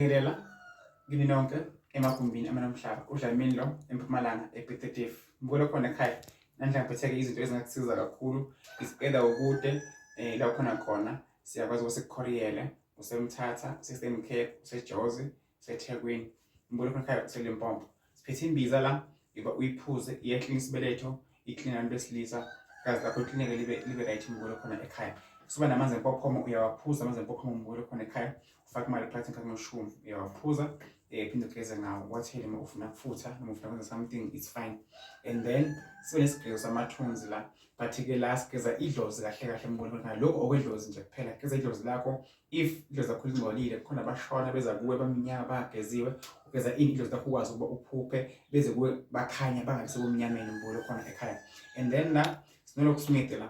Ngibingelela kini nonke emagumbini amanamhlaba udlamini lo empumalanga ebethedef ngikolo khona ekhaya namhla ngiphatheke izinto ezingakusiza kakhulu is either ukude um la khona khona siyakwazi ukuba sikukhoriyele usemthatha usesemkhepha usejozi usethekwini ngikolo khona ekhaya uselimpompo Siphethe imbiza la iba uyiphuze iyaklina isibeletho iklina abantu besilisa kazi lapho iklineke libe libe right mukule khona ekhaya suba namanzi empophomo uyawaphuza amanzi empophomo mukule khona ekhaya ufake imali phakathi ngakho noshumi uyawaphuza eh phinde ugeze ngawo wathele uma ufuna kufutha noma ufuna kwenza something it's fine and then sibe nesigqezo samathunzi la but ke la sigeza idlozi kahle kahle mukule khona lokho okwedlozi nje kuphela geza idlozi lakho if indlu zakho zingcolile kukhona abashona beza kuwe bamnyama bangageziwe ugeza ini indlu zakho ukwazi ukuba uphuphe beze kuwe bakhanya bangabi sebumnyameni umbulo khona ekhaya and then la sinoloku smith la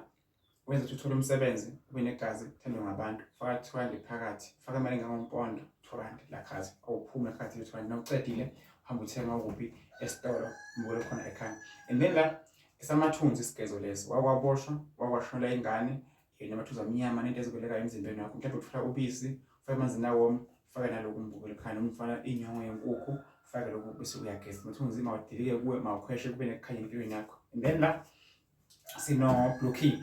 wenza ukuthi uthole umsebenzi ube negazi thandwe ngabantu faka two rand phakathi faka imali engangompondwa two rand lakhazi awuphume phakathi le two rand nawucedile hamba uthenga ukuphi esitolo umbulo khona ekhaya and then la esamathunzi isigezo lesi wakwaboshwa wakwashonela ingane yena amathuza amnyama nento ezikwelekayo emzimbeni wakho mhlawumbe uthola ubisi ufake emanzini awom ufake naloku mbukelo khani umfana inyongo yenkukhu ufake loku bese uyageza ukuthi unzima wadilike kuwe mawukhweshe kube nekukhanya empilweni yakho and then la sino blue key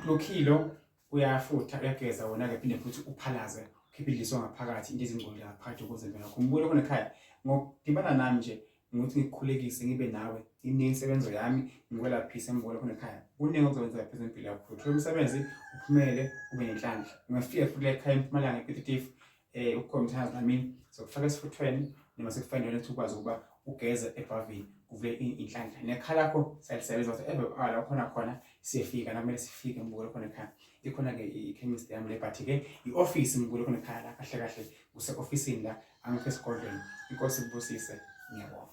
blue key lo uyafutha uyageza wona-ke phinde futhi uphalaze ukhiphe idliso ngaphakathi into ezingcolile ngaphakathi ukuze impela yakho umbulo khona ekhaya ngokudibana nami nje ngokuthi ngikukhulekise ngibe nawe iningi insebenzo yami ngikwelaphise embola khona ekhaya kuningi okuzokwenza laphezu empilo yakho uthole umsebenzi uphumele ube nenhlanhla ungafika futhi ekhaya empumalanga epetitive um eh, ukukhona umthandazo namini sokufaka esifuthweni noma sekufanele ukuthi ukwazi ukuba ugeze ebhavini kuvule inhlanhla nekhala lakho siyalisebenza ukuthi ebe ala khona khona siyefika nakumele sifike mbuko khona ekhaya ikhona-ke ikhemist yami le but-ke i-ofisi mbuko khona ekhaya la kahle kahle use ofisini la angikho esigodlweni inkosi kubusise ngiyabonga